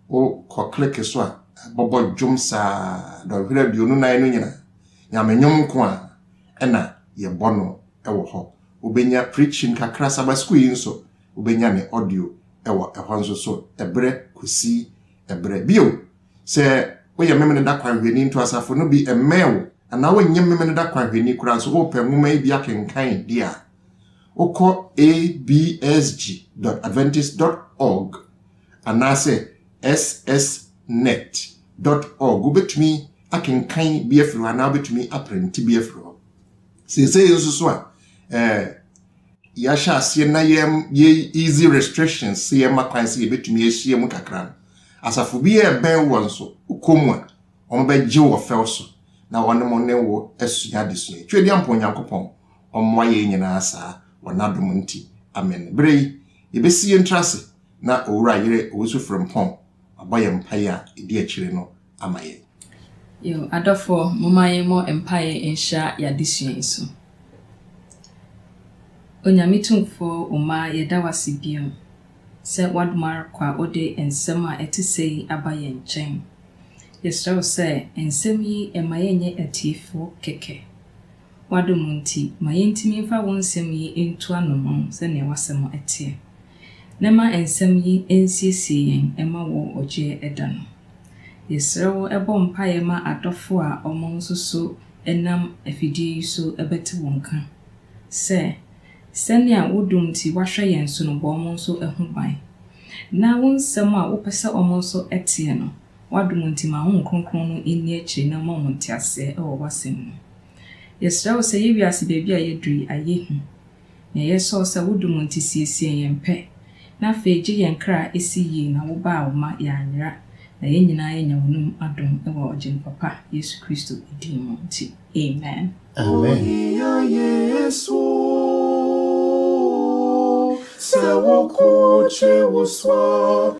Wokɔ kleke so a, ɛbɔbɔ dwom saa dɔnhwere aduonu nan no nyinaa. Nyame nnwom nko a ɛna yɛbɔ no wɔ hɔ. Wobɛnya preaching kakra, Sabbath School yi nso wobɛnya ne audio wɔ ɛhɔ nso so ɛberɛ kɔsi ɛberɛ. Bio, sɛ woyɛ Memeneda kwanhwɛni nto asafo no bi mmɛn wo anaa wonyɛ Memeneda kwanhwɛni koraa nso wopɛ nwoma yi bi akenkan di a, wokɔ absg.adventist.org anaasɛ ssnet.org wobɛtumi akenkan bi afiri hɔ anaa wobɛtumi aprente bi afiri hɔ. Seesei nso so a, eh, yɛahyɛ aseɛ na yɛ easy restrictions sɛ yɛma kwan sɛ yɛbɛtumi ahyia mu kakra no, asafo bi a ɛbɛn wɔ nso wokɔ mu a, wɔn bɛgye wɔ fɛw so na wɔne mo ne wo asua adesua yi. Twɛdi ampa Onyankopɔn ɔmmoa yɛn nyinaa saa wɔ n'adom nti. Amen. Berɛ yi, yɛbɛsi yɛn tiri ase na Owura Yere Owusu Frimpong abɔ yɛn mpaeɛ a ɛdi akyire no ama yɛn. Yiw, adɔfo, momma yɛmmɔ mpae nhyira y'adesua yi so. Onyame Tumfo Oma, yɛda wo ase bio sɛ woadom ara kwa a wode nsɛm a ɛte sɛi aba yɛn nkyɛn. Yɛsrɛ wo sɛ nsɛm yi mma yɛnyɛ atiefo kɛkɛ, W'adom nti, ma yentumi mfa wo nsɛm yi ntu anoman sɛnea w'asɛm teɛ, na ma nsɛm yi nsiesie yɛn mma wo ɔgyeɛ da no. Yɛsrɛ wo bɔ mpaeɛ ma adɔfo a wɔn nso so nam afidie yi so bɛte wo nka, sɛ, sɛnea wo dom nti woahwɛ yɛn so no bɔ wɔn nso ho ban, na wo nsɛm a wopɛ sɛ wɔn nso teɛ no W'adom nti ma Honhom Kronkron no nni akyire na ɔma mo nteaseɛ wɔ W'asɛm mu. Yɛsrɛ Wo sɛ yɛ wiase baabi a yɛaduru yi ayɛ hu. Nea yɛsrɛ Wo sɛ Wo dom nti siesie yɛn pɛ, na afei gye yɛn kra si yie na Wo baa Wo ma yɛanyera na yɛn nyinaa yɛanya W'anom adom wɔ Ɔgyenipa pa Yesu Kristo din mu nti, amen. Amen. Ohia Yesu sɛ wo kotwe wo so a.